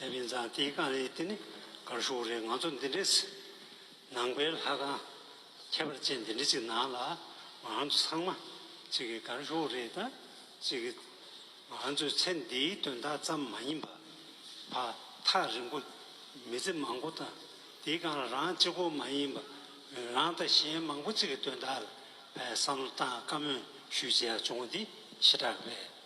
བྱས་པའི་མཛའ་བརྩེའི་རྐང་རིས་དེ་ནི་གར་ཤུགས་རེད་ང་ཚོ་འདི་འདྲའི་ནང་པའི་ལྷ་ཁང་ཁྱད་པར་ཅན་འདི་འདྲ་ཅིག་ནང་ལ་ང་ཚོ་ཚང་མ་ཅིག་གི་གར་ཤུགས་རེད་ད་ཅིག་གི་ང་ཚོའི་ཚེ་འདིའི་དོན་དག་ཙམ་མ་ཡིན་པར་བར་ཐག་རིང་པོ་མི་ཚེ་མང་པོ་དང་དེའི་སྒང་ལ་རང་གཅིག་པོ་མ་ཡིན་པར་རང་དང་གཞན་མང་པོ་ཅིག་གི་དོན་དག་ལ་བསམ་བློ་བཏང་དཀའ་མོས་ཞུ་བྱས་ཡག་བྱུང་འདི་ཕྱི་དྲགས་པས།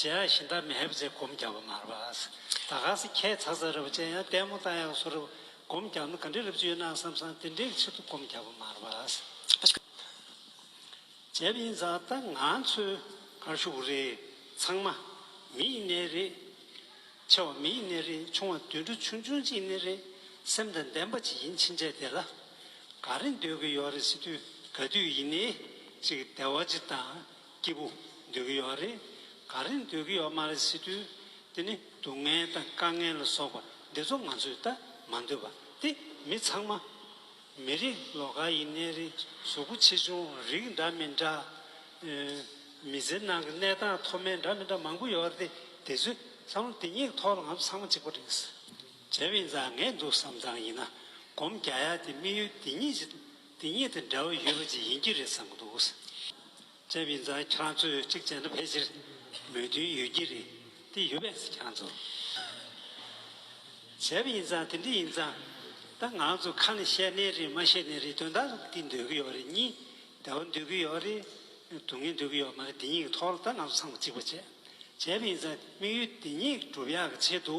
ཇེ་ཡང་ཤིན་ཏཱ་མེ་ཧེ་བ་ཅེས་སྒོམ་རྒྱག་པ་མར་བ་ཨཱས་ད་ག་ཟེ་ཁྱད་ཚ་ཚ་ར་བ་ཅན་ཡང་ལྟད་མོ་ལྟ་ཡག་བཟོ་ར་བ་སྒོམ་རྒྱག་ན་ག་འདྲི་ར་བཅུ་ཡོད་ནའང་བསམ་བསམ་དེ་འདྲའི་ཕྱིར་དུ་སྒོམ་རྒྱག་པ་མར་བ་ཨཱས་བྱས་པ་ཡིན་ཙང་ད་ང་ཚོའི་གར་ཤུགས་རེད་ཚང་མ་མི་ཡི་ནས་རེད་ཆེ་བ་མི་ཡི་ནས་རེད་ཆུང་བ་དུད་འགྲོ་ཆུང་ཆུང་ཅིག་ནས་རེད་སེམས་དང་ལྡན་པ་ཅིག་ཡིན་ཕྱིན་ཆད་དེ་ལ་ག་རེ་འདོད་གི་ཡོད་རེད་སི་ཏུས་ག་དུས་ཡིན་ནའི་ཅིག་བདེ་བ་ཅིག་དང། སྐྱིད་པོ་འདོད་ཀྱི་ཡོད་རེད། ག་རེ་འདོད་ཀྱི་ཡོད་མ་རེད་ཟེར་དུས། དེ་ནི་སྡུག་བསྔལ་དང་དཀའ་ངལ་ལ་སོགས་པ་འདི་ཚོ་ང་ཚོས་ད་མ་འདོད་པ་སྟེ་མི་ཚང་མ། མི་རིགས་ལོ་ག་ཡིན་གནས་རི་གཟུགས་པོ་ཆེ་ཆུང་རིགས་འདྲ་མི་འདྲ། མི་ཚེ་ནང་གི་གནས་སྟངས་མཐོ་དམན་འདྲ་མི་འདྲ་མང་པོ་ཡོད་རེད་དེ་ཚོའི་བསམ་བློ་དེ་ཉིད་ཐོག་ལ་ང་ཚོ་ཚང་མ་གཅིག་པ་རེད། བྱས་པའི་མཛའ་ངལ་འདུག་བསམ་ཙང་ཡིན་ན་སྒོམ་རྒྱ་ཡག་དེ་དམིགས་ཡུལ་དེ་ཉིད་ཅིག་དེ་གཉིས་དང་འདྲ་བ་ཡོད་པ་ཅིག་ཡིན་གྱི་རེད་བསམ་གྱི་འདུག་བཅབས་ཡིན་ཙང་ཁྱེད་རང་ཚོས་གཅིག་བྱས་ན་ཕལ་ཆེར་མོས་མཐུན་ཡོད་ཀྱི་རེད་དེ་ཡོད་པས་ཁྱེད་རང་ཚོ་བྱབས་ཡིན་ཙང་དེ་འདྲ་ཡིན་ཙང་ད་ང་ཚོ་ཁ་ནས་བཤད་ནའི་རེད་མ་བཤད་ནའི་རེད་དོན་དག་འདི་འདོད་ཀྱི་ཡོད་རེད་གཉིས་བདེ་བ་འདོད་ཀྱི་ཡོད་རེད་སྡུག་བསྔལ་འདོད་ཀྱི་ཡོད་མ་རེད་དེ་གཉིས་ཀྱི་ཐོག་ལ་ད་ང་ཚོ་ཚང་མ་གཅིག་པ་བྱས་བྱབས་ཡིན་ཙང་དམིགས་ཡུལ་དེ་གཉིས་སྒྲུབ་ཡག་གི་ཆེད་དུ།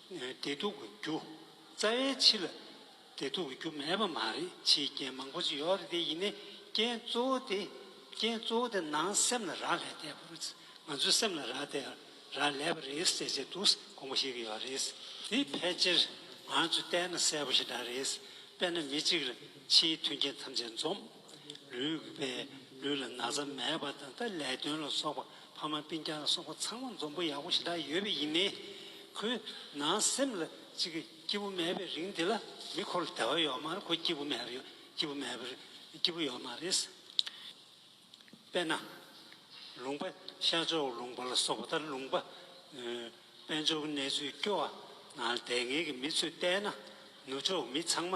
བདེ་སྡུག་གི་རྒྱུ་རྩ་བའི་ཕྱི་ལ་བདེ་སྡུག་གི་རྒྱུ་མེད་པ་མ་རེད་ཕྱིའི་རྐྱེན་མང་པོ་ཅི་ཡོད་རེད་དེ་ཡིན་ནའི་རྐྱེན་གཙོ་བོ་དེ་རྐྱེན་གཙོ་བོ་དེ་ནང་སེམས་ལ་རག་ལས་བསྡད་པ་རེད་ང་ཚོའི་སེམས་ལ་རག་བསྡད་རག་ལས་པ་རེད་ཟེར་བྱས་འདུག་དགོངས་པ་བཞེས་ཀྱི་ཡོད་རེད་དེ་ཕལ་ཆེར་ང་ཚོས་བལྟས་ན་གསལ་པོ་ཞིག་འདྲ་རེད་དཔེར་ན་མི་གཅིག་ལ་ཕྱིའི་མཐུན་རྐྱེན་ཐམས་ཅད་འཛོམས། ལུས་པས་ལུས་ལ་ན་ཚ་མེད་པ་དང་ལས་དོན་ལ་སོགས་པ་ཕ་མ་སྤུན་ཆང་སོགས་པ་ཚང་མ་འཛོམས་པོ་ཡག་པོ་ཞེ་དྲག་ཡོད་པས་ཡིན་མིན། ཁོའི་ནང་སེམས་ལ་ཅིག་སྐྱིད་པོ་མེད་པའི་རིང་འདི་ལ་མི་ཁོ་ལ་དད་བ་ཡོད་མ་རེད་ཁོ་སྐྱིད་པོ་མེད་སྐྱིད་པོ་མེད་སྐྱིད་པོ་ཡོད་མ་རེད། དཔེར་ན། ལུང་པ་ཤར་ཕྱོགས་ལུང་པ་ལ་སོགས་པ་ལྟར་ལུང་པ། དཔལ་འབྱོར་གྱི་གནས་ཚུལ་སྐྱོ་བ་ནང་དལ་ངེས་ཀྱི་མི་ཚོས་བལྟས་ན་ནུབ་ཕྱོགས་མི་ཚང་མ་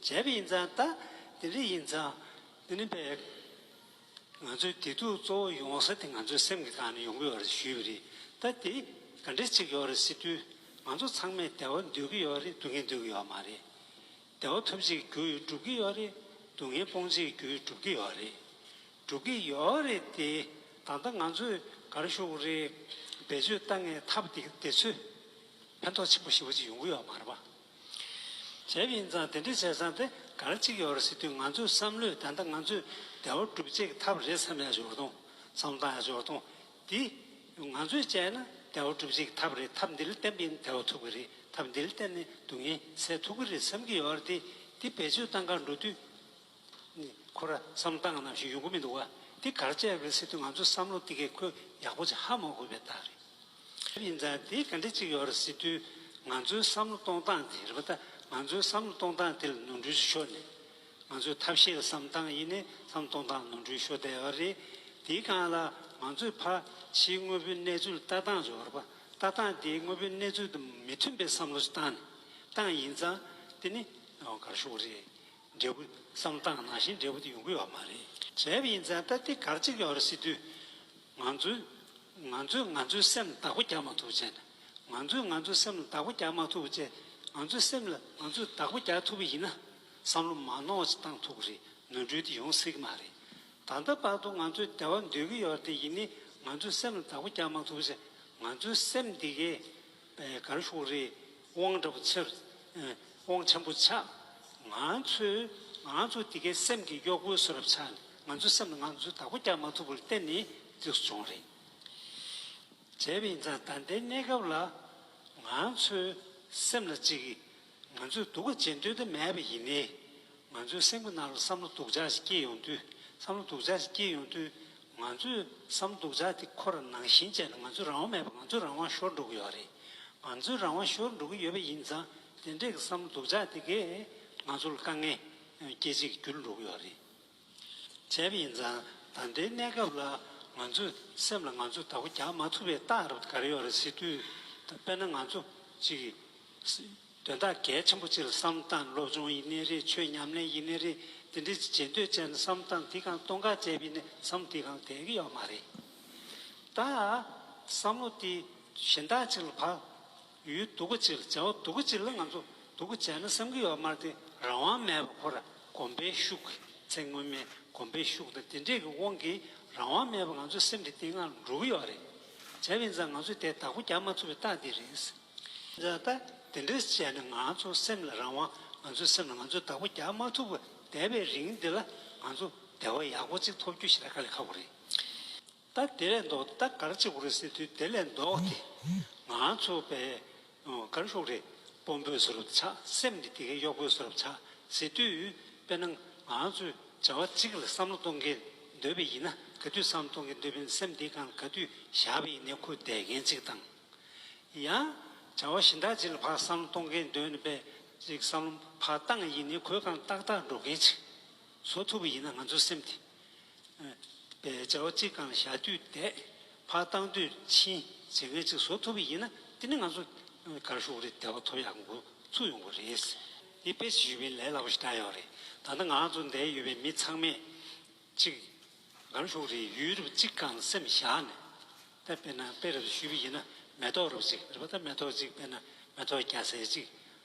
བྱས་པ་ཡིན་ཙང་ད་དེ་འདྲ་ཡིན་ཙང་དེ་ནི་པས། ང་ཚོའི་བདེ་སྡུག་གཙོ་བོ་ཡོང་ས་དེ་ང་ཚོའི་སེམས་ཀྱི་ཐང་ནས་ཡོང་གི་ཡོད་རེད་ཞུས་པ་རེད་ད་དེ་ག་འདྲས་ཅིག་ཡོད་རེད་ཟེར་དུས་ང་ཚོ་ཚང་མས་བདེ་བ་འདོད་ཀྱི་ཡོད་རེད་སྡུག་བསྔལ་འདོད་ཀྱི་ཡོད་མ་རེད། བདེ་བ་ཐོབ་ཆེད་རྒྱུ་ཡོད་སྒྲུབ་ཀྱི་ཡོད་རེད་སྡུག་བསྔལ་སྤོང་ཆེད་རྒྱུ་ཡོད་སྒྲུབ་ཀྱི་ཡོད་རེད། སྒྲུབ་ཀྱི་ཡོད་རེད་དེ་ད་ལྟ་ང་ཚོས་གར་ཞུགས་རེ་བེད་སྤྱོད་ལྟ་ངེས་ཐབས་དེ་ཚོས་ཕན་ཐོགས་ཆེན་པོ་ཞེ་བོ་ཅིག་ཡོང་གི་ཡོད་མ་རེད་པ། བྱས་པ་ཡིན་ཙང་དེ་འདྲ་བྱས་ཙང་དེ་གར་གཅིག་ཡོད་རེད་ཟེར་དུས་ང་ཚོའི་བསམ་བློས་ད་ལྟ་ང་ཚོས་བདེ་བ་སྒྲུབ་བྱེད་ཀྱི་ཐབས་རེད་བསམ་ཡག་ཞོར་དུང་བསམ་བཏང་ཡག་ཞོར་དུང་དེ་ང་ཚོས་བྱས་ན་བདེ་བ་སྒྲུབ་བྱེད་ཀྱི་ཐབས་རེད་ཐབས་འདི་ལ་བརྟེན་པའི་བདེ་བ་ཐུབ་ཀྱི་རེད་ཐབས་འདི་ལ་བརྟེན་ནས་སྡུག་བསྔལ་སེལ་ཐུབ་ཀྱི་རེད་བསམ་གྱི་ཡོད་རེད་དེ་འདི་བེད་སྤྱོད་བཏང་ཁར་འགྲོ་དུས་ཁོ་ར་བསམ་སྟངས་ནམ་ཞིག་ཡོང་གི་མི་འདུག་བ་འདི་གར་བཅར་བའི་སི་ཏུ་ང་ཚོས་བསམ་བློ་འདི་གས་ཁོས་ཡག་པོ་ཆ་ཧ་མ་གོ་བའི་རྟགས་རེད་དེ་ཡིན་ཙང་དེའི་ག་འདྲེ་ཅིག་ཡོད་ར་སི་ཏུ་ང་ཚོའི་བསམ་བློ་གཏོང་སྟངས་དེ་རེད་པ་ད་ང་ཚོའི་བསམ་བློ་གཏོང་སྟངས་དེ་ལ་ནོར་འཁྲུལ་ཆེ་ཤོས་ནི་ང་ཚོའི་ཐབས་ཤེས་བསམ་སྟངས་ཡིན་ནས་བསམ་བློ་གཏོང་སྟངས་ནོར་འཁྲུལ་ཤོ་དལ་བ་རེད་དེའི་སྒང་ལ་ང་ཚོས་ཕ་ཕྱིའི་དངོས་པོའི་གནས་ཚུལ་ལྟ་སྟངས་རེད་བ་ར་པ་ལྟ་སྟངས་དེའི་དངོས་པོའི་གནས་ཚུལ་དང་མི་མཐུན་པའི་བསམ་བློ་ཆ་སྟངས་ནི་སྟངས་ཡིན་ཙང་དེ་ནི་གར་ཤོག་རེད། འབྲས་བུ་བསམ་སྟངས་ནང་བཞིན་འབྲས་བུ་དེ་ཡོང་གི་ཡོད་པ་མ་རེད། བྱས་པ་ཡིན་ཙང་སྟབས་བདེ་གར་གཅིག་ཡོང་རེ་ཟེར་དུས། ང་ཚོས་ང་ཚོས་ང་ཚོའི་སེམས་ལ་བདག་པོ་རྒྱག་མ་ཐུབ་བྱས་ན། ང་ཚོས་ང་ཚོའི་སེམས་ལ་བདག་པོ་རྒྱག་མ་ཐུབ་བྱས་ང་ཚོའི་སེམས་ལ་ང་ཚོས་བདག་པོ་རྒྱག་ཐུབ་པ་ཡིན་ན། བསམ་བློ་མ་ནོར་བྱས་སྟངས་ཐུག་གི་རེད་ནོར་འཁྲུལ་དེ་ཡོང་སྲིད་ཀྱི་མ་རེད། ད་ལྟ་བར་དུ་ང་ཚོས་བདེ་བ་འདོད་ཀྱི་ཡོད་དེ་ཡིན་ནའི་ང་ཚོའི་སེམས་ལ་བདག་པོ་རྒྱག་མ་ཐུབ་བྱས་ང་ཚོའི་སེམས་འདི་གས། ག་རེ་ཤོག་རེད་དབང་འདྲ་པོ་འཚལ། དབང་ཆེན་པོ་ཆགས། ང་ཚོས་ང་ཚོ་འདི་གའི་སེམས་ཀྱི་གཡོག་པོའི་སོ་རབ་ཆགས་ནས་ང་ཚོའི་སེམས་ལ་ང་ཚོའི་བདག་པོ་རྒྱག་མ་ཐུབ་པར་གཏན་ནས་འཇིགས་སུ་བྱུང་རེད། བྱས་པ་ཡིན་ཙང་ད་ལྟའི་གནས་སྐབས་ལ་ང་ཚོའི་སེམས་ལ་ཅིག་ང་ཚོས་སྡུག་ག་བྱེད་འདོད་དུ་མེད་པ་ཡིན་ནའི། ང་ཚོའི་སེམས་ཀྱི་ནང་ལ་བསམ་བློ་སྡུག་ཅག་ཞིག་སྐྱེས་ཡོང་དུས་བསམ་བློ་སྡུག་ཅག་ཞིག་སྐྱེས་ཡོང་དུས། ང་ཚོས་བསམ་བློ་སྡུག་ཅག་དེ་ཁོ་ར་ནང་བཞིན་བྱས་ན་ང་ཚོའི་རང་དབང་མེད་པ་ང་ཚོའི་རང་དབང་ཤོར་འགྲོ་གི་ཡོད་རེད། ང་ཚོའི་རང་དབང་ཤོར་འགྲོ་གི་ཡོད་པ་ཡིན་ཙང་དེ་འདྲས་ཀྱི་བསམ་བློ་སྡུག་ཅག་དེ་གས་ང་ཚོ་ལ་དཀའ་ངལ་སྐྱེད་བྱེད་ཀྱི་རྒྱུ་ལ་འགྲོ་གི་ཡོད་རེད། བྱས་པ་ཡིན་ཙང་ད་ལྟའི་གནས་སྐབས་ལ་ང་ཚོས་སེམས་ལ་ང་ཚོས་དག་པ་རྒྱག་མ་ཐུབ་པའི་རྟགས་རབ་དགར་ཡོད་རེད་ཟེར་དུས། དཔེར་ན་ང་ཚོ་གཅིག་གིས་དོན་དག་གལ་ཆེན་པོ་གཅིག་ལ་བསམ་བཏང་སློབ་སྦྱོང་ཡིན་ནི་རེད་ཆོས་ཉམས་ལེན་ཡིན་ནི་རེད་དེ་འདྲའི་ཆེ་བརྗེད་འདོད་ཅན་བསམ་བཏང་དེ་གང་སྟོང་ཁ་ཅལ་བས་ནི་བསམ་དེ་གང་དེ་གི་ཡོད་མ་རེད། ད་བསམ་བློ་དེ་གཞན་དག་ཅིག་ལ་བག། ཡུལ་སྡུག་གི་ཕྱིར་བྱ་བ་སྡུག་གི་ཕྱིར་ལ་ང་ཚོ་སྡུག་གི་བྱས་ན་བསམ་གྱི་ཡོད་པ་མར་ཏེ་རང་དབང་མེད་པར་ཁོ་ར་གོམས་པའི་ཤུགས་ཀྱིས་ཚེ་སྔོན་མའི་གོམས་པའི་ཤུགས་དང་དེ་འདྲས་ཀྱི་དབང་གིས་རང་དབང་མེད་པར་ང་ཚོའི་སེམས་ཀྱི་སྟེང་ང་འགྲོ་གི་ཡོད་པ་རེད། བྱས་པའི་འཛག་ང་ཚོས་དེ་དག་པོ་རྒྱག་མ་ཐུབ་པའི་རྟགས་དེ་རེད། འཛག་ད་དེ་འདྲས་བྱས་ན་ང་ཚོ་སེམས་ལ་རང་དབང་ང་ཚོའི་སེམས་ལ་ང་ཚོས་དག་པོ་རྒྱག་མ་ཐུབ་པར་བསྡད་པའི་རིང་འདི་ལ་ང་ཚོ་བདེ་བ་ཡག་པོ་ཅིག་ཐོབ་རྒྱུ་ཞིག་ལ་དཀའ་ལས་ཁག་པོ་རེད། ད་དེ་ལས་ལྡོག་སྟེ་ད་གར་གཅིག་པོ་རེད་ཟེར་དུས་དེ་ལས་ལྡོག་སྟེ་ང་ཚོ་བས་གར་ཤོག་རེ་སྤོམ་པོས་བཟོ་རབས་ཆགས་སེམས་ཀྱི་དེ་གའི་གཡོག་པོས་བཟོ་རབས་ཆགས་ཟེར་དུས་དཔེར་ན་ང་ཚོས་བྱ་བ་གཅིག་ལ་བསམ་བློ་གཏོང་གི་འདོད་པས་ཡིན་ན་ག་དུས་བསམ་བློ་གཏོང་གི་འདོད་པའི་སེམས་དེ་གང་ག་དུས་བཞག་པས་ཡིན་ནའི་ཁུ་བསྡད་མཁན་གཅིག་དང། ཡང་བྱ་བ་གཞན་དག་ཅིག་ལ་བག་བསམ་བློ་གཏོང་གི་འདོད་པས་ཅིག་བསམ་བློ་བག་བཏང་ཡིན་ནའི་ཁུ་གང་ཏག་ཏག་འགྲོ་མཁན་ཅིག་བཟོ་ཐུབ་པ་ཡིན་ན་ང་ཚོའི་སེམས་དེ། པའི་བྱ་བ་གཅིག་གང་བྱ་དུས་དད་ཕ་བཏང་དུས་ཕྱིན་བྱེད་མཁན་གཅིག་བཟོ་ཐུབ་པ་ཡིན་ན་དེ་ནི་ང་ཚོ་གར་ཞུགས་རིགས་དད་པ་ཐོབ་ཡག་འགོ་ཚུགས་ཡོང་གི་རེད། དེ་དཔེ་ཆ་ཞུས་པའི་ལས་སླ་པོ་ཞིག་བསྒྲགས་ཡོད་རེད་ད་ལྟ་ང་ཚོ་འདས་ཡོད་པའི་མི་ཚང་མས་གཅིག་གར་ཞུགས་རིགས་ཡུལ་རབས་གཅིག་གང་སེམས་བཞག་ནས་དད་དཔེ་ན་དཔེ་རབས་ཞུས་པ་ཡིན་ན་མེ་ཏོག་རབས་གཅིག་རེད་པ་ད་མེ་ཏོག་གཅིག་དཔེ་ན་མེ་ཏོག་རྒྱ་ཟེར་གཅིག་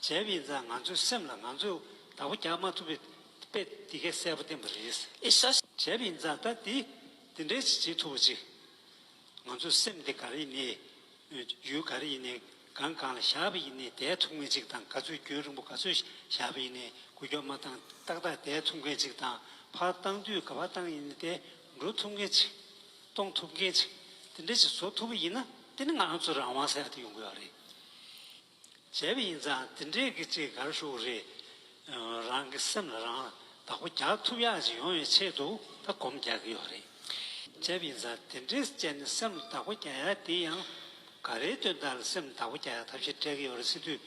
བྱས་པ་ཡིན་ཙང་ང་ཚོའི་སེམས་ལ་ང་ཚོས་བདག་པོ་རྒྱག་མ་ཐུབ་པའི་དཔེ་འདི་གས་གསལ་པོ་བསྟན་པ་རེད། བྱས་པ་ཡིན་ཙང་ད་འདི་འདི་འདྲའི་ཞིག་བྱེད་ཐུབ་པ་ཅིག། ང་ཚོའི་སེམས་འདི་ག་རེ་ཡིན་ནའི། ཡུལ་ག་རེ་ཡིན་ནའི་སྒང་གང་ལ་བཞག་པ་ཡིན་ནའི་བསྡད་ཐུབ་མཁན་ཅིག་དང་ག་ཚོད་རྒྱུན་རིང་པོ་ག་ཚོད་བཞག་པ་ཡིན་ནའི་གུ་གྱོགས་མ་བཏང་ཏག་ཏག་བསྡད་ཐུབ་མཁན་ཅིག་དང་ཕར་བཏང་དུས་ག་བ་བཏང་ཡིན་ནའི་བསྡད་འགྲོ་ཐུབ་མཁན་ཅིག། གཏོང་ཐུབ་མཁན་ཅིག་དེ་འདྲ་ཞིག་བཟོ་ཐུབ་པ་ཡིན་ན་དེ་ནི་ང་ཚོ་རང་དབང་གསལ་དུ་ཡོང་གི་རེད། བྱས་པ་ཡིན་ཙང་དེ་འདྲའི་གི་ཅིག་གར་བཞུགས་པ་རེད། རང་གི་སེམས་ལ་རང་བདག་པོ་རྒྱག་ཐུབ་ཡག་ཅིག་ཡོང་བའི་ཆེད་དུ་ད་གོམ་རྒྱག་གི་ཡོད་རེད། བྱས་པ་ཡིན་ཙང་དེ་འདྲའི་བཅས་ནས་སེམས་ལ་བདག་པོ་རྒྱག་ཡག་དེ་ཡང་འགའ་རེའི་དོན་དག་ལ་སེམས་ལ་བདག་པོ་རྒྱག་ཡག་ཐབས་ཤེས་སྤྲད་གི་ཡོད་རེད་སྲིད་དུས་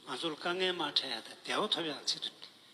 ང་ཚོར་དཀའ་ངལ་མ་འཕྲད་ཡག་དང་བདེ་བ་ཐོབ་ཡག་ཆེད་དུ་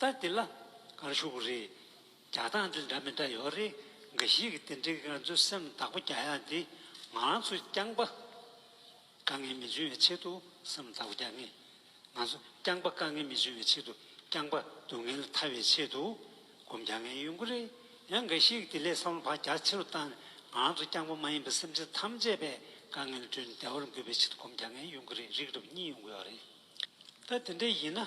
ལྟ་དེ་ལ་གར་ཤོག་བུ་རེ་རྒྱག་སྟངས་དེ་འདྲ་མི་འདྲ་ཡོད་རེད་འགའ་ཞིག་གིས་དེ་འདྲའི་ང་ཚོའི་སེམས་ལ་བདག་པོ་རྒྱག་ཡ་དེ་ང་རང་ཚོ་རྐྱང་པ་དཀའ་ངལ་མི་འབྱུང་བའི་ཆེད་དུ་སེམས་ལ་བདག་པོ་རྒྱག་ངེས། ང་ཚོ་རྐྱང་པ་དཀའ་ངལ་མི་འབྱུང་བའི་ཆེད་དུ་རྐྱང་པ་སྡུག་བསྔལ་ཐར་བའི་ཆེད་དུ་སྒོམ་རྒྱག་ངེས་ཡོང་གི་རེད་ཡང་འགའ་ཞིག་གིས་དེ་ལས་བསམ་བློ་བག་རྒྱ་ཆེ་རུ་བཏང་ནས་ང་རང་ཚོ་རྐྱང་པ་མ་ཡིན་པའི་སེམས་ཅན་ཐམས་ཅད་པའི་དཀའ་ངལ་བགྲོད་ནས་བདེ་བར་འགོད་པའི་ཆེད་དུ་སྒོམ་རྒྱག་ངེས་ཡོང་གི་རེད་རིགས་རབ་གཉིས་ཡོང་གི་ཡོད་རེད། ལྟ་དེ་འདྲ་ཡིན་ན།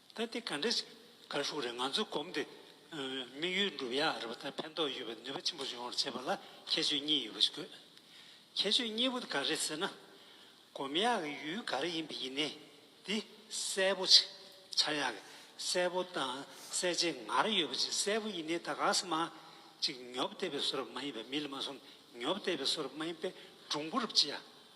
ད་དེ་ག་འདྲ་ཞིག་དགའ་ཤུགས་རེད་ང་ཚོའི་གོམས་ཏེ་དམིགས་ཡུལ་འགྲུབ་ཡག་རེད་པ་དང་ཕན་ཐོགས་ཡོད་པའི་ནུས་པ་ཆེན་པོ་ཡོང་བར་བྱེད་པ་ལ་ཁྱད་ཆོས་གཉིས་ཡོད་པ་ཞིག་དགོས། ཁྱད་ཆོས་གཉིས་པོ་དེ་ག་རེད་ཟེར་ན། གོམས་ཡག་གི་ཡུལ་ག་རེ་ཡིན་པ་ཡིན་ནའི་དེ་གསལ་པོ་ཆགས་ཡག་གི་གསལ་པོ་དང་གསལ་བྱེད་ངར་ཡོད་པ་ཅིག་གསལ་པོ་ཡིན་ནའི་ད་ག་ས་མ་ཅིག་ཉོབ་བསྡད་པའི་བཟོ་རབས་མ་ཡིན་པའི་མི་ལ་མ་གསུངས་ཉོབ་བསྡད་པའི་བཟོ་རབས་མ་ཡིན་པའི་སྒྲུང་གོ་རབས་ཅི་ཡ།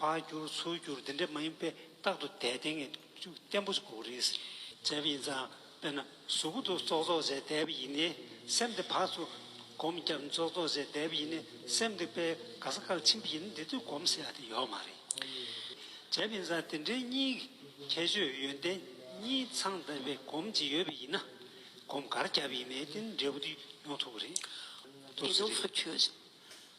བར་བསྒྱུར་ཚུར་བསྒྱུར་འདི་འདྲས་མ་ཡིན་པས་རྟག་ཏུ་དད་ལྡན་ངེས་འཇུག་བརྟན་པོ་དགོས་རེད། བྱས་པ་ཡིན་ཙང་དཔེར་ན་གཟུགས་སྐུ་དུ་རྩོག་རྩོག་བྱས་དད་པ་ཡིན་ནས་སེམས་དེ་བག་ཏུ་སྒོམ་རྒྱབ་རྩོག་རྩོག་བྱས་དད་པ་ཡིན་ནས་སེམས་དེ་དཔེ་ག་ས་གལ་ཆེན་པོ་ཡིན་ན་དེ་དུས་སྒོམ་ཟེར་བ་དེ་ཡོད་མ་རེད། བྱས་པ་ཡིན་ཙང་དེ་འདྲའི་གཉིས་ཀྱི་ཁྱད་ཆོས་ཡོན་ཏན་གཉིས་ཚང་དད་པའི་སྒོམ་གྱི་ཡོད་པ་ཡིན་ན་སྒོམ་གར་རྒྱབ་ཡིན་ནས་དེ་འདྲས་པོ་དེ་ཡོང་ཐུབ་ཀྱི་རེད། དེ་ཚོ་ཚུར་ཆུད།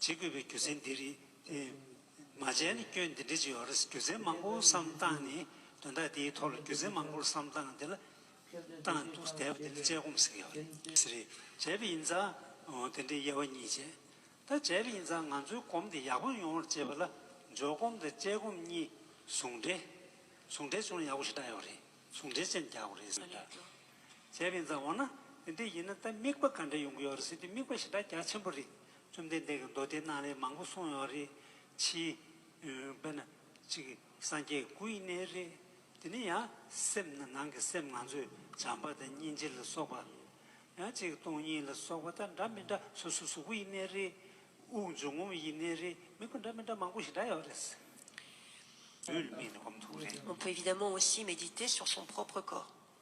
བྱེད་དགོས་པའི་རྒྱུ་མཚན་འདི་རེད། མ་བྱས་ན་སྐྱོན་འདི་འདྲ་ཅིག་ཡོང་རེ་ཟེར་རྒྱུ་མཚན་མང་པོ་བསམ་བཏང་ནས་དོན་དག་དེའི་ཐོག་ལ་རྒྱུ་མཚན་མང་པོ་བསམ་བཏང་དེ་ལ་བཏང་འདུག་བསྡད་པ་དེ་ལ་དཔྱད་སྒོམ་ཟེར་གྱི་ཡོད་རེད། ཟེར་རེད་བྱས་པ་ཡིན་ཙང་དེ་འདྲའི་དབྱེ་བ་གཉིས་བྱས། ད་བྱས་པ་ཡིན་ཙང་ང་ཚོའི་སྒོམ་དེ་ཡག་པོ་ཡོང་བར་བྱེད་པ་ལ་འཇོག་སྒོམ་དང་དཔྱད་སྒོམ་གཉིས་ཟུང་འབྲེལ། ཟུང་འབྲེལ་བྱུང་ན་ཡག་པོ་ཞིག་འདྲ་ཡོད་རེད། ཟུང་འབྲེལ་ཅན་རྒྱག་དགོས་རེད་ཟེར་བ་འདྲ། བྱས་པའི་མཛའ་འོ་ན་དེ་འདྲས་ཡིན་ན་ད་དམིགས་པ་ག་འདྲ་ཡོང་གི་ཡོད་རེད་ཟེར་དུས་དམིགས་པ་ཞེ་དྲག་རྒྱ་ཆེན་པོ་རེད་བཅོམ་ལྡན་འདས་ཀྱི་མདོ་སྡེ་རྣམས་ལས་མང་པོ་གསུངས་ཡོང་རེད་ཕྱིས། དཔེར་ན། གཅིག་སངས་རྒྱས་སྐུ་ཡི་གནས་རེད། དེ་ནས་ཡང་སེམས་ནི་ནང་གི་སེམས་ང་ཚོས་བྱམས་པ་དང་སྙིང་རྗེ་ལ་སོགས་པ། ཡང་གཅིག་སྟོང་ཉིད་ལ་སོགས་པ་དང་འདྲ་མི་འདྲ་སོ་སོའི་གཟུགས་སྐུ་ཡི་གནས་རེད། དབུགས་འབྱུང་ངོམ་ཡི་གནས་རེད་དམིགས་པ་འདྲ་མི་འདྲ་མང་པོ་ཞེ་དྲག་ཡོད་རེད། བུད་མེད་ནི་སྒོམ་ཐུག་རེད།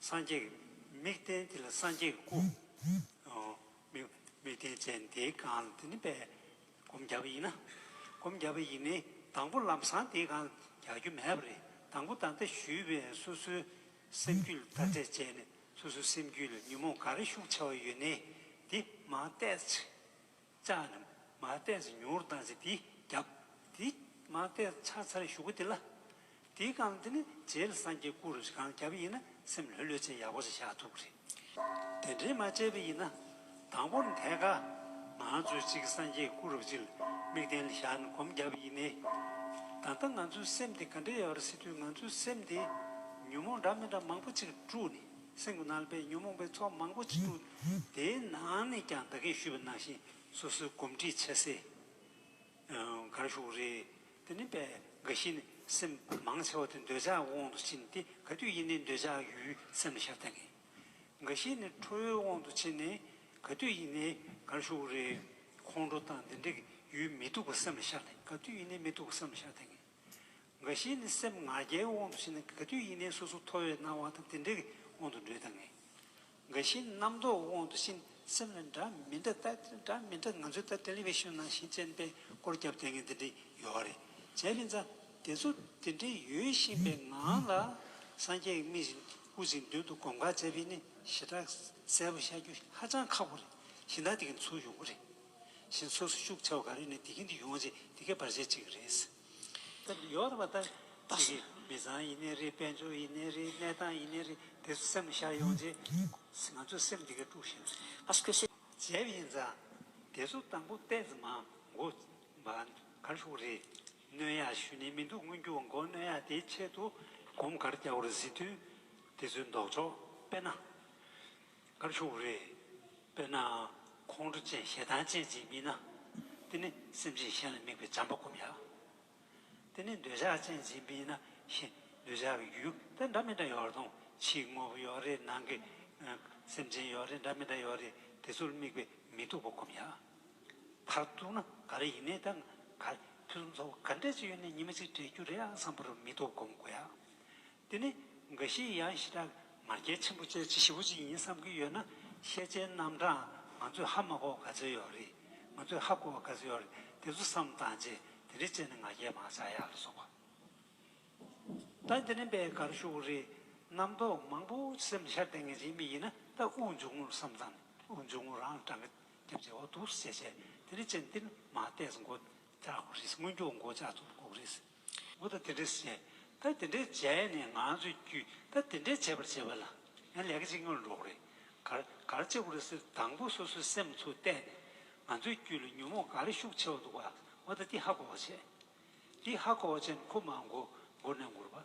སངས་རྒྱས་ཀྱི་མིག་བསྟན་དེ་ལ་སངས་རྒྱས་ཀྱི་སྐུའོ། མིག་བསྟན་ཅན་དེའི་གང་ལ་དེ་ནི་པས་སྒོམ་རྒྱབ་ཡིན་ན། སྒོམ་རྒྱབ་པ་ཡིན་ནི་དང་པོ་ལམ་བཟང་དེའི་གང་ལ་རྒྱག་རྒྱུ་མེད་པ་རེད་དང་པོ་ད་ལྟ་ཞུས་པའི་སོ་སོའི་སེམས་རྒྱུད་ལ་བརྡ་སྤྲད་བྱས་ནས་སོ་སོའི་སེམས་རྒྱུད་ལ་ཉོན་མོངས་ག་རེ་ཤུགས་ཆེ་བ་ཡོད་ནི་དེ་མ་བལྟས། ལྕགས་རྣམས་མ་བལྟས་ཚེ་མྱུར་བཏང་ཚེ་འདི་བརྒྱབ། འདི་མ་བལྟས་ཕྱག་འཚལ་བཞུགས་སྒོ་འདི་ལ། འདི་བསྐང་འདི་ནི་རྗེའི་སངས་རྒྱས་སྐུ་རུ་གང་བརྒྱབ་ཡིན་ན་སེམས་ལྷོད་ལྷོད་བྱས་ཡག་པོ་བྱས་ཤ་ཐུག་རེད། དེ་འདྲའི་མ་བྱས་པ་ཡིན་ན། དང་པོར་འདས་ཁ། ང་ཚོས་གཅིག་སངས་རྒྱས་སྐུ་རུ་གཅིག་དམིགས་རྟེན་ལ་བཞག་ནས་སྒོམ་བརྒྱབ་ཡིན་ནི། ད་ལྟ་ང་ཚོའི་སེམས་དེ་ག་འདྲ་ཡོད་རེད་སི་དུས་ང་ཚོའི་སེམས་དེ། ཉོན་མོངས་འདྲ་མི་འདྲ་མང་པོ་ཅིག་དཀྲུགས་ནས། སྲིན་མོ་ནལ་པའི་ཉོན་མོངས་པའི་ཚོགས་མང་པོ་ཅི་འདུག་དེའི་ནང་ནས་ཀྱང་བདག་གིས་ཞུས་པ་ནང་བཞིན་སོ་སོའི་སྒོམ་ཁྲིད་བྱས་སེ། གར་ཞུགས་རེ། དེ་ནི་པད་དགའ་བཞི་ནི་སེམས་མང་ཆེ་བ་དེ་འདོད་ཆགས་ཀྱི་དབང་དུ་ཕྱིན་ཏེ་ག་དུས་ཡིན་ནའི་འདོད་ཆགས་ཡུལ་སེམས་ལ་ཞབས་ལྟ་ངེས། དགའ་བཞི་ནི་ཁྲོ་བོའི་དབང་དུ་ཕྱིན་ནས་ག་དུས་ཡིན་ནའི་གར་ཞུགས་རེ། ཁོང་ཁྲོ་དང་དེ་འདྲ་གི་ཡུལ་མི་སྡུག་པ་སེམས་ལ་ཞབས་ལྟ་ག་དུས་ཡིན་ནའི་མི་སྡུག་པ་སེམས་ལ་ཞབས་ལྟ་ངེས། འགའ་ཞིག་ནི་སེམས་ང་རྒྱལ་དབང་དུ་བྱས་ནས་ག་དུས་ཡིན་ནའི་སོ་སོ་མཐོ་བའི་སྣང་བ་དང་དེ་འདྲའི་དབང་དུ་འགྲོས་དང། འགའ་ཞིག་ནི་རྣམ་རྟོག་དབང་དུ་བྱས་ནས་སེམས་ལ་འདྲ་མི་འདྲ་ལྟ་འདྲ་མི་འདྲ་ང་ཚོའི་ལྟར Television ནང་བཞིན་ཅན་པས་སྐོར་བརྒྱབ་དེ་ངས་འདི་འདྲི་ཡོད་རེད་བྱས་པས་འཛམ་དེ་ཚོ་དེ་འདྲའི་ཡོད་བཞིན་པའི་ངང་ལ་སངས་རྒྱས་ཀྱི་མིག་བཞིན་དབུ་འཛིན་མདུན་དུ་གོམ་ཁ་བྱས་པས་ནི་ཞེ་དྲག་གསལ་པོ་ཤར་རྒྱུ་ཧ་ཅང་ཁག་པོ་རེད་གཞི་བདག་དེ་གིས་འཚོ་ཡོང་གི་རེད། བཞིན་སོ་སོའི་ཤུགས་ཆེ་བ་ག་རེ་ནས་དེ་གིན་དུ་ཡོང་ཆེད་དེ་གའི་བར་ཆད་ཅིག་རེད། ད་ནི་ཡོད་པ་ལྟར་ཁྱེད་ཀྱི་མི་ཚང་ཡིན་ནི་རེད་དཔལ་འབྱོར་ཡིན་ནི་རེད་གནས་སྟངས་ཡིན་ནི་རེད་དེ་ཚོ་སེམས་ལ་ཤར་ཡོང་ཆེད་ང་ཚོའི་སེམས་དེ་གའི་དཀྲུགས་བཞིན་རེད། བྱས་པ་ཡིན་ཙང་དེ་ཚོ་དང་པོ་བལྟས་ཙང་མ་འགོ་བ་གར་ཤོག་རེད། སྣོན་ཡག་ཞུས་ནས་མི་འདུག་སྔོན་འགྱུར་བ་འགོ་སྣོན་ཡག་དེའི་ཆེད་དུ་གོམ་གར་རྒྱག་པར་གཟིགས་དོན་དེ་ཚོའི་འདོགས་ཆོག་དཔེར་ན། སྐབས་ཤོར་བ་རེད། དཔེར་ན། ཁོང་ཁྲོ་བཅས་ཞེ་སྡང་ཅན་ཅིག་མིན་ན། དེ་ནི་སེམས་ཅན་གཞན་ལ་དམིགས་པའི་བྱམས་པ་སྒོམ་ཡག། དེ་ནི་འདོད་ཆགས་ཅན་ཅིག་མིན་ན་ཞེ་འདོད་ཆགས་ཀྱི་རྒྱུ་དེ་འདྲ་མི་འདྲ་ཡོད་རུང་ཕྱིའི་དངོས་པོ་ཡོད་རེད་ནང་གི་སེམས་ཅན་ཡོད་རེད་འདྲ་མི་འདྲ་ཡོད་རེད་དེ་ཚོར་དམིགས་པས་མི་སྡུག་པ་སྒོམ་ཡག། མཐར་གཏུགས་ན་ག་རེ་ཡིན་ནའི་ད་ག་རེ་ཕུན་སུམ་ཚོགས་པ་ག་འདྲས་ཅིག་ཡོད་ནའི་ཉི་མ་གཅིག་འདྲེས་རྒྱུ་རེད་ཨང་བསམ་པར་མི་སྡུག་སྒོམ་དགོས་ཡག། འདི་ནི་འགའ་ཞིག་ཡང་ཞི་དྲག་ང་རྒྱལ་ཆེན་པོ་བཅས་བྱེད་ཞི་བོ་ཅིག་ཡིན་བསམ་གྱི་ཡོད་ན་ཤེས་བྱའི་རྣམ་གྲངས་ང་ཚོས་ཧ་མ་གོ་ག་ཚོད་ཡོད་རེད་ང་ཚོས་ཧ་གོ་བ་ག་ཚོད་ཡོད་རེད་དེ་ཚོ་བསམ་བཏང་རྗེས་དེ་འདྲའི་བྱས་ནས་ང་རྒྱལ་མང་ཆགས་ཡག་ལ་སོགས་པ་ད་འདི་ནི་པད་དཀར་ཤུགས་རེད་རྣམ་རྟོག་མང་པོ་སེམས་ལ་ཤར་ལྡན་ངེས་ཅན་མི་ཡིན་ན་ད་དབུགས་འབྱུང་ངོ་བསམ་བཏང་ནས་དབུགས་འབྱུང་ངོ་རང་ལ་བགྲང་གི་རྒྱབ་རྗེས་འོ་དུག་སེ་བྱས་བྱས་དེ་འདྲའི་བྱས་ནས་འདི་ནི་མ་བལྟས་སུ་འགོ་བཅག་དགོས་རེད་སྔོན་འགྱོགས་འགོ་བཅག་ཐུབ་དགོས་རེད། མུ་ད་དེ་འདྲས་སུ་བྱས་ད་དེ་འདྲས་བྱས་ནས་ང་ཚོས་རྒྱུད་ད་དེ་འདྲས་བྱས་པར་བྱས་པ་ལ་ཡང་ལས་ཀ་གཅིག་མངོན་འགྲོ་གི་རེད་གར་གར་བྱེད་དགོས་རེད་ཟེར་དུས་དང་པོ་སོ་སོའི་སེམས་ཚོར་བལྟས་ནས་ང་ཚོའི་རྒྱུད་ལ་ཉོན་མོངས་ག་རེ་ཤུགས་ཆེ་བ་འདུག་པ་མུ་ད་ཏི་ཧ་གོ་བར་བྱས། ཏི་ཧ་གོ་བར་བྱས་ནས་ཁོ་མང་གོ་མགུར་ནས་མགུར་བ།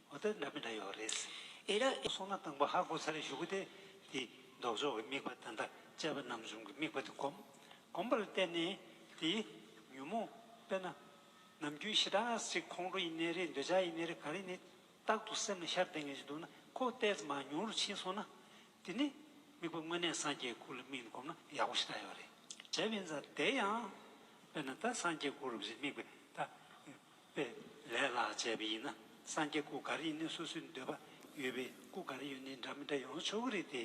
ཨོ་ཏི་འདྲ་མི་འདྲ་ཡོད་རེད། ཨེ་ར་ཨེ། སོང་ན་སྟངས་པ་ཧ་གོ་ཚར་བཞུགས་གི་དེ་དེའི་ལྡོག་ཕྱོགས་ཀྱི་དམིགས་པ་ད་ལྟ་དཔྱད་པ་ནམ་བྱུང་གི་དམིགས་པ་དེ་གོམས། གོམས་པ་ལ་བརྟེན་ནས་དེའི་ཉོན་མོངས་དཔེར་ན། ནམ་རྒྱུན་ཞི་དྲག་ཅིག་ཁོང་ཁྲོ་ཡི་གནས་རེད་འདོད་ཆགས་ཡི་གནས་རེད་ག་རེ་ནི། རྟག་ཏུ་སེམས་ལ་ཤར་བསྡད་ངེས་ཅིག་འདུག་ན་ཁོ་བལྟས་ཙམ་ཨང་ཉུང་རུ་ཕྱིན་སོང་ན། དེ་ནི་དམིགས་པ་དངོས་གནས་སངས་རྒྱས་སྐུ་ལ་དམིགས་ནས་གོམས་ན་ཡག་པོ་ཞེ་དྲག་ཡོད་རེད། དེ་བས་འཛར་བསྡད་ཡང། དཔེར་ན་ད་སངས་རྒྱས་སྐུ་རུ་བཞིན་དམིགས་པས་ད། པའི་ལས་ལ་བྱས་པ་ཡིན་ན་སངས་རྒྱས་སྐུ་ག་རེ་ཡིན་ནའི་སོ་སོའི་འདོད་པ་ཡོད་པའི་སྐུ་ག་རེ་ཡོད་ནའི་འདྲ་མི་འདྲ་ཡོང་ཆོག་གི་རེད་དེ།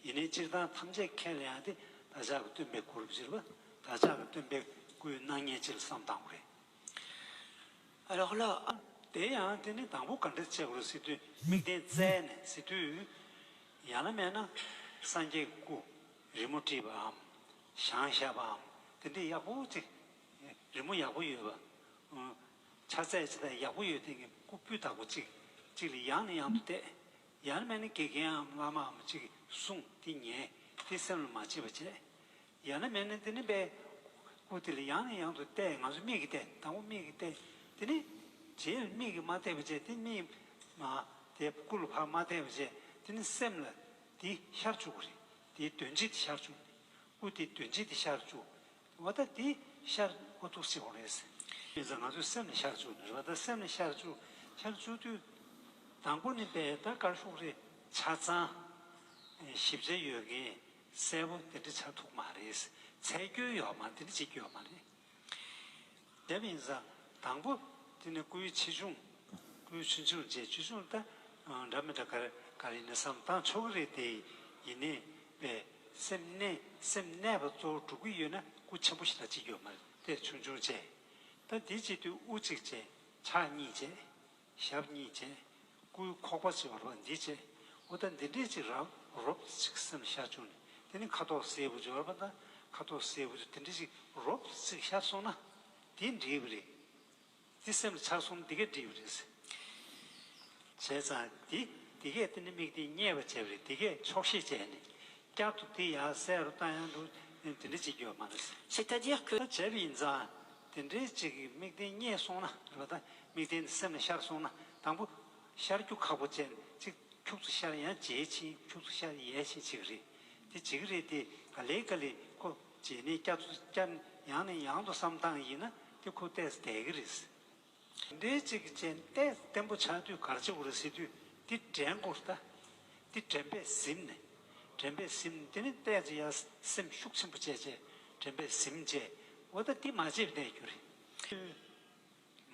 ཡིན་ནའི་སྤྱིར་བཏང་ཐམས་ཅད་མཁས་ལ་ཡང་དེ་བདག་ཅག་གི་སྟོན་པའི་སྐུ་རུ་གྱུར་པ་བདག་ཅག་གི་སྟོན་པའི་སྐུའི་སྣང་བརྙན་སྤྱིར་བསམ་དང་པོ་རེད། རོགས་ལ། དེ་ཡང་དེ་ནི་དང་པོ་ག་འདྲ་བྱས་གོ་སྲིད་དུས་མིག་ལྡན་བཙལ་ནས་གཟིགས་དུས། ཡང་ན་མེད་ན། སངས་རྒྱས་ཀྱི་སྐུ་རི་མོ་བྲིས་པའམ་ཞང་ཞབས་པའམ་དེ་འདྲས་ཡག་པོ་ཅིག་རི་མོ་ཡག་པོ་ཡོད་པ། ཆ་ཚད་ཇི་ལྟར་ཡག་པོ་ཡོད་དེང་གི་སྐུ་སྤུས་དག་པོ་གཅིག་གཅིག་ལས་ཡང་ནས་ཡང་དུ་བལྟས། ཡང་མན་ནི་དགེ་རྒན་འམ་བླ་མའམ་གཅིག་གསུང་དེ་ཉན་དེ་སེམས་ལ་མ་བྱེད་པ་བྱས། ཡང་ན་མན་ནི་འདི་ནི་པའི་སྐུ་དེ་ལས་ཡང་ནས་ཡང་དུ་བལྟས་ང་ཚོ་མིག་གིས་བལྟས་དང་པོ་མིག་གིས་བལྟས་དེ་ནི་རྗེས་ལ་མིག་གིས་མ་བལྟས་པ་བྱས་དེ་ནི་མིག་མ་བལྟས་སྐུ་ལ་ཕར་མ་བལྟས་པ་བྱས་དེ་ནི་སེམས་ལ་དེ་ཤར་བཅུག་གོ་རེད་དེ་དོན་ཅི་སྟེ་ཤར་བཅུག་ནས་སྐུ་དེ་དོན་ཅི་སྟེ་ཤར་བཅུག་འོ་ད་དེ་ཤར་འོ་ཐུག་སྲིད་འོང་རེད། དེ་ཚོ་ང་ཚོའི་སེམས་ལ་ཤར་བཅུག་ནི་རེད་ད་སེམས་ལ་ཤར་བཅུག་ཤར་བཅུག་དུས། དང་པོ་ནི་པད་ད་དཀར་ཤོག་རེད་ཆ་ཚང། ཞིབ་ཆ་ཡོད་མཁན་གསལ་པོ་དེ་འདྲ་ཆགས་ཐུག་མ་རེད། ཚད་སྐྱོན་ཡོད་མ་དེ་འདྲ་ཅིག་སྐྱོན་མ་རེད། དེ་མིན་ས་དང་པོ་དེ་ནི་སྐུའི་ཆེ་ཆུང། སྐུའི་ཆུ་ཆུང་བཅས་ཆུ་ཆུང་ལྟ་འདྲ་མི་འདྲ་ག་རེ་ག་རེ་ཡིན་ན་བསམ་སྟངས་ཕྱོགས་ག་རེ་དེ་ཡིན་ནས་པས་སེམས་གནས་སེམས་གནས་པ་གཙོ་བོ་དྲུག་གི་ཡོད་ན་སྐུ་ཆེན་པོ་ཞིག་ལ་གཅིག་ཡོད་མ་རེད་དེ་ཆུང་ཆུང་བཅས་ད་དེ་གཅིག་དུས་དབུ་གཅིག་བཅས་ཕྱག་གཉིས་བཅས་ཞབས་གཉིས་བཅས། སྐུའི་ཁོག་པ་ཕྱེ་བ་རོ་འདི་བཅས། ཨུ་ད་འདི་འདྲས་ཅིག་རབ་རོབ་ཅིག་སེམས་ཤར་བྱུང་ནས་དེ་ནི་ཁ་དོག་སེར་བུ་སྦྱོར་བ་དང་ཁ་དོག་སེར་བུ་དུ་དེ་འདྲས་ཅིག་རོབ་ཅིག་ཤར་སོང་ན། དེ་འདྲིས་པ་རེད། དེ་སེམས་ལ་འཆར་སོང་ན་འདི་གས་འདྲིས་པ་རེད། བྱས་ཙང་དེ་འདི་གས་དེ་ནི་དམིགས་ཏེ་བསྙད་པར་བྱས་པ་རེད་འདི་གས་ཆོག་ཤེས་བྱས་ནས་བསྐྱར་དུ་དེ་ཡར་གསལ་རུ་བཏང་ཡང་འགྲུབ་དེ་འདྲའི་གཅིག་ཡོད་མ་རེད་ཟེར། C'est-à-dire que། ད་བྱས་པ་ཡིན་ཙང་དེ་འདྲའི་གཅིག་གི་དམིགས་རྟེན་རྙེད་སོང་ན་རེ་བ་དང་དམིགས་རྟེན་དེ་སེམས་ལ་ཤར་སོང་ན་དང་པོ། ཤར་རྒྱུ་ཁག་པོ་བཅས་ནས་གཅིག་འཁྱུག་ཚུ་ཤར་ཡང་བྱས་ཕྱིན་འཁྱུག་ཚུ་ཤར་ཡས་ཕྱིན་བྱེད་ཀྱི་རེད། དེ་བྱེད་ཀྱི་རེད་དེ་ག་ལེ་ག་ལེ་ཁོ་བྱས་ནས་བསྐྱར་ཚུ་བསྐྱར་ནས་ཡང་ནས་ཡང་དུ་བསམ་སྟངས་ཡིན་ན་དེ་ཁོ་བལྟས་སུ་བསྡད་ཀྱི་རེད། འདི་གཅིག་རྐྱེན་གཏད་བརྟན་པོ་ཆགས་དུས་གར་བྱེད་ཀུར་སེ་དུས་འདི་དྲན་ཀུར་ལྟ། འདི་དྲན་པས་གཟིམས་ནས་དྲན་པས་གཟིམས་འདི་ནི་གཏད་རྗེས་ཡར་སེམས་ཤུགས་ཆེན་པོ་བཅས་རྗེས་དྲན་པས་གཟིམས་བཅས་འོ་ད་འདི་མ་བྱེད་བསྡད་རྒྱུ་རེད།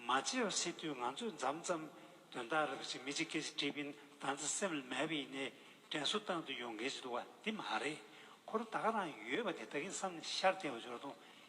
མ་བྱེད་བར་སེ་དུས་ང་ཚོས་འཛམ་ཙམ་དོན་དག་རེ་བ་ཅིག་མི་ཅིག་སྐད་ཅིག་དྲིས་པིན་ད་ཚ་སེམས་ལ་མེད་པ་ཡིན་ནའི་དྲན་གསོ་བཏང་དུས་ཡོང་གལ་ཅིག་འདུག་བ་འདི་མ་རེད་ཁོ་རོ་ད་ག་རང་ཡོད་པ་དེ་ད་གིན་བསམ་ནས་ཤར་བསྡད་བ་འབྱོར་དུང་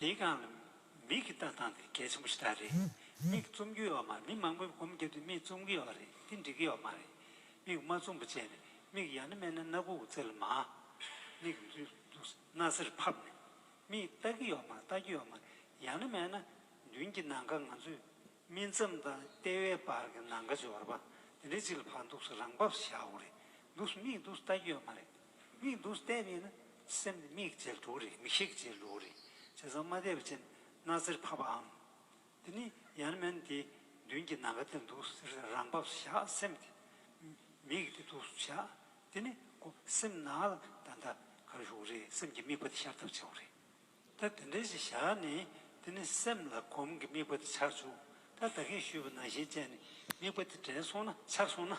ལས་གང་ལ་མིག་གིས་ལྟ་སྟངས་དེ་གལ་ཆེན་པོ་ཞིག་ལྟར་རེད། མིག་བཙུམ་རྒྱུ་ཡོད་མ་རེད་མི་མང་པོས་སྒོམ་རྒྱབ་དུས་མིག་བཙུམ་གི་ཡོད་རེད་དེ་འགྲིག་གི་ཡོད་མ་རེད། མིག་མ་བཙུམ་པ་བྱས་ནས་མིག་ཡར་ནི་སྨད་ནི་སྣ་གུག་རྩེ་ལ་མ། མིག་སྣ་སེར་ཕབ་ནས་མིག་ལྟ་གི་ཡོད་མ་རེད་ལྟ་གི་ཡོད་མ་རེད་ཡང་ནི་སྨད་ན་མདུན་གྱི་ནང་ཁ་ང་ཚོས་སྨིན་མཚམས་དང་ལྟེ་བའི་བར་གྱི་ནང་ཁ་སྦྱོར་བ་དེ་འདྲའི་ཅིག་ལ་བར་འདུག་སོ་རང་བབས་སུ་བཞག་འོ་རེད་འདུག་སོ་མིག་འདུག་སོ་ལྟ་གི་ཡོད་མ་རེད། དམིགས་འདུག་གཏན་ནས་ན་སེམས་ནི་མིག་འབྱེད་ལུགས་རེད་མིག་ཤེས་འབྱེད་ལུགས་རེད་བྱས་ཙང་མ་དེབ་ཅན་སྣ་རྩེར་ཕབ་པའམ། འདི་ནི་ཡར་མན་དེ་མདུན་གྱི་ནང་ག་དེར་འདུག་ཟེར་ནས་རང་བབས་སུ་བཞག་སེམས་དེ་མིག་དེ་འདུག་སུ་བཞག་དེ་ནི་ཀོ་སེམས་ནང་ལ་ད་ལྟ་གར་ཞུགས་རེད་སེམས་ཀྱི་དམིགས་པ་དེ་ཤར་ཐབས་བྱེད་རེད། ད་དེ་འདྲའི་ཞིག་བཞག་ནས་དེ་ནི་སེམས་ལ་གོམས་ཀྱི་དམིགས་པ་དེ་ཆགས་བྱུང་ད་བདག་གིས་ཞུས་པ་ནང་བཞིན་བྱས་ནས་དམིགས་པ་དེ་དྲན་སོང་ན་ཆགས་སོང་ན།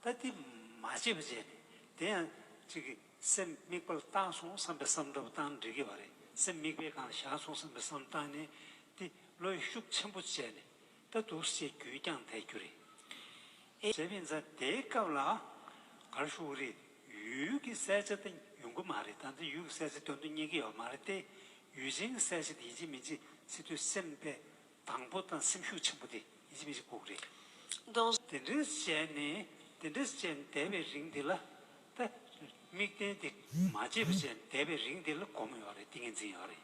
ད་དེ་མ་བྱས་པ་བྱས་ནས་དེ་ཡང་གཅིག་གིས་སེམས་དམིགས་པ་ལ་བཏང་སོང་བསམ་པའི་བསམ་འདྲ་བོ་བཏང་ན་འགྲིག་གི་བ་རེད་སེམས་དམིགས་པའི་སྒང་ལ་བཞག་སོང་བསམ་པའི་བསམ་བཏང་ནས་དེ་བློ་ཡི་ཤུགས་ཆེན་པོ་བྱས་ནས་ལྟ་འདུག་སྲིད་བསྐྱོད་ཀྱང་ལས་རྒྱུ་རེད། ཨེ་ཟེར་བས་འཛའ་དེའི་སྐབས་ལ་གར་བཞུགས་གི་རེད། ཡུལ་གྱི་གསལ་ཆ་དེ་ཡོང་གི་མ་རེད་ད་ནི་ཡུལ་གྱི་གསལ་ཆ་དོན་དུ་གཉེར་གྱི་ཡོད་མ་རེད་དེ། ཡུལ་ཅན་གྱི་གསལ་ཆ་དེ་ཡིན་གཅིག་མིན་གཅིག་སྲིད་དུ་སེམས་དཔའི་དང་པོ་དང་སེམས་ཤུགས་ཆེན་པོ་དེ་ཡིན་གཅིག་མིན་གཅིག་ལྐུགས་རེད། དེ་འདྲའི་བྱས་ནས་དེ་འདྲ་བྱས་ནས་བསྡད་པའི་རིང་དེ་ལ་ད་དམིགས་རྟེན་དེ་མ་བརྗེད་པ་བྱས་ནས་བསྡད་པའི་རིང་དེ་ལ་གོམས་ཡོད་རེད་ཏིང་ངེ་འཛིན་ཡོད་རེད།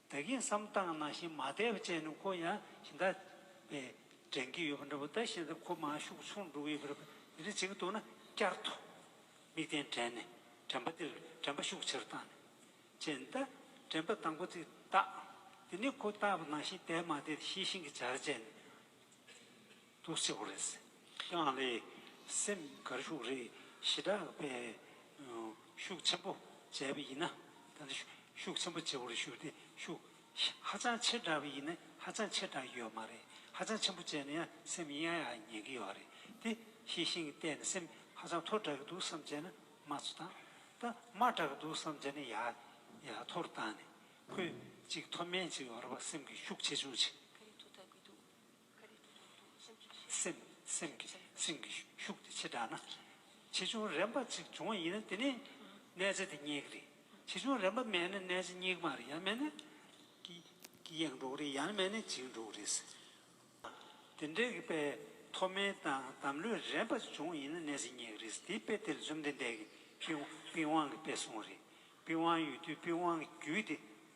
བདག་གིས་བསམ་སྟངས་ནང་བཞིན་མ་བསྡད་པ་ཅན་ནི་ཁོ་ཡང་གཞི་བདག་པས་དྲན་གྱི་ཡོད་པ་འདྲ་བོ་ད་བཞིན་ཏེ་ཁོ་མ་ཤུགས་ཆུང་འགྲོ་གི་ཡོད་པ་རེད་པ་དེ་རེད་ཅིག་འདུག་ན་བསྐྱར་དུ་མིག་གདན་དྲན་ནས་དྲན་པ་འདིར་དྲན་པ་ཤུགས་ཆེར་བཏང་ནས་ཅན་ད་དྲན་པ་དང་པོ་ཚིག་བཏགས་དེ་ནི་ཁོ་བཏགས་པ་ནང་བཞིན་བསྡད་མ་བསྡད་དེ་ཤེས་བཞིན་གྱི་བྱར་བྱས་ནས། ཐུགས་སྐྱོ་བོ་རེད། ཁྱེད་རང་ལས་སེམས་དགར་ཤུགས་རེ་ཞི་དྲག་པས་ཤུགས་ཆེན་པོ་བྱས་པ་ཡིན་ན་ད་ནི་ཤུགས་ཆེན་པོ་བྱེད་པོ་རེ་ཞུ་སྟེ་ཤུགས་ཧ་ཅང་ཆེ་དྲག་པ་ཡིན་ན་ཧ་ཅང་ཆེ་དྲག་གི་ཡོད་མ་རེད་ཧ་ཅང་ཆེན་པོ་བྱས་ན་ཡང་སེམས་ཡང་ཡང་ཉན་གི་ཡོད་རེད་དེ་ཤེས་ཤིང་བལྟས་ན་སེམས་ཧ་ཅང་མཐོ་དྲག་གི་འདུག་བསམ་བྱས་ན་མ་ཚོ་དང་ད་དམའ་དྲག་གི་འདུག་བསམ་བྱས་ན་ཡ་ཡ་མཐོར་བཏང་ནས་ཁོས་ཅིག་མཐོ་དམན་ཅིག་ཡོད་རེད་པ་སེམས་ཀྱི་ཤུགས་ཆེ་ཆུང་ཅིག། ག་རེ་ཐུགས་དྲག་གི་འདུག། སེམས་ཀྱི་སེམས་ཀྱི་ཤུགས་དེ་ཆེ་དྲགས་ན། ཆེ་ཆུང་རན་པ་ཅིག་འབྱུང་བ་ཡིན་ན་དེ་ནི་གནས་ཚད་དེ་སྙེག་རེད། ཆེ་ཆུང་རན་པ་མེད་ན་གནས་ཚད་སྙེག་མ་རེད་ཡང་མེད་ན་ཀྱི་ཡང་འགྲོ་གི་རེད་ཡང་མེད་ན་འཇིག་འགྲོ་གི་རེད། དེ་འདྲའི་དཔེ་མཐོ་དམན་དང་དམ་ལྷོད་རན་པ་ཅིག་འབྱུང་བ་ཡིན་ན་གནས་ཚད་སྙེག་རེད། དེའི་དཔེ་དེ་ལྷུན་ལྡན་འདས་ཀྱི་པི་ཝང་གི་དཔེ་གསུངས་རེད། པི་ཝང་ཡོད་དུས་པི་ཝང་གི་རྒྱུད་དེ།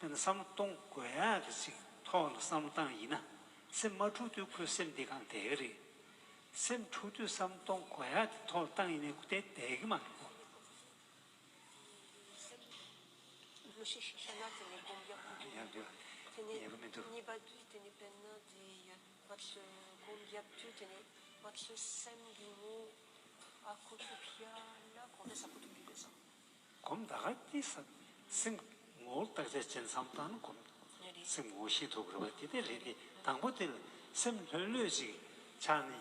དེ་ནི་བསམ་བློ་གཏོང་དགོས་ཡ་རེད་ཚིག་ཐོག་ལ་བསམ་བློ་བཏང་ཡིན་ན་སེམས་མ་འཁྲུག་དུས་ཁོའི་སེམས་དེ་གང་བདེ་གི་རེད། སེམས་འཁྲུག་དུས་བསམ་བློ་གཏོང་དགོས་ཡ་དེ་ཐོག་ལ་བཏང་ཡིན་ན་ཁོ་དེ་བདེ་གི་མ་རེད་གོ། སྒོམ་བཟླས་གང་སྐྱེས་བསམ་སེམས་ངོ་བོ་བརྟག་བྱ་ཅན་བསམ་སྟངས་ནི་སྒོམ་སེམས་ངོ་བོ་ཤེས་ཐུབ་དགོས་པ་དེ་ལྟའི་རེད་དེ་དང་པོ་དེ་ལ་སེམས་ལྷོད་ལྷོད་ཅིག་ཆགས་ནས་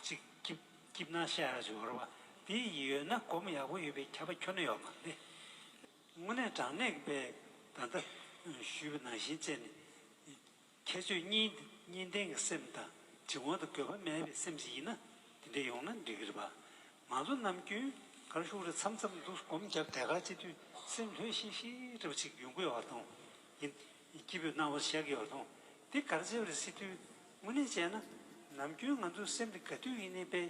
ཅིག་སྐྱིབ་སྐྱིབ་སྣང་ཤར་ཤར་ཅིག་འོར་བ་དེ་ཡོད་ན་སྒོམ་ཡག་པོ་ཡོད་པའི་ཁྱབ་པ་ཁྱོན་ན་ཡོད་མ་རེད། དངོས་གནས་དྲང་གནས་པས་ད་ལྟ་ཞུས་པ་ནང་བཞིན་བྱས་ནས་ཁྱེད་ཆོས་གཉིས་འདི་གཉིས་ལྡན་གྱི་སེམས་དང་དྲི་ངོ་དང་དགོས་པ་མེད་པའི་སེམས་ཞིག་ཡིན་ན་དེ་འདྲས་ཡོང་ན་འགྲིག་གི་རེད་པ། ང་ཚོ་ནམ་རྒྱུན་གར་ཞུགས་རེ་འཚམ་འཚམ་འདུག་སྒོམ་བརྒྱབ་དལ་ཁ་སྤྱི་དུས་སེམས་ལྷོད་ཤིག་ཤིག་རེ་བ་ཅིག་རྒྱུན་དགོས་བ་དང། ཡིན་སྐྱིད་པོས་སྣང་བ་བཞག་གི་བ་དང་འདི་གར་བྱས་པ་རེ་སྲིད་དུས་དངོས་གནས་བྱས་ན་ནམ་རྒྱུན་ང་ཚོའི་སེམས་དེ་ག་དུས་ཡིན་ནས་པས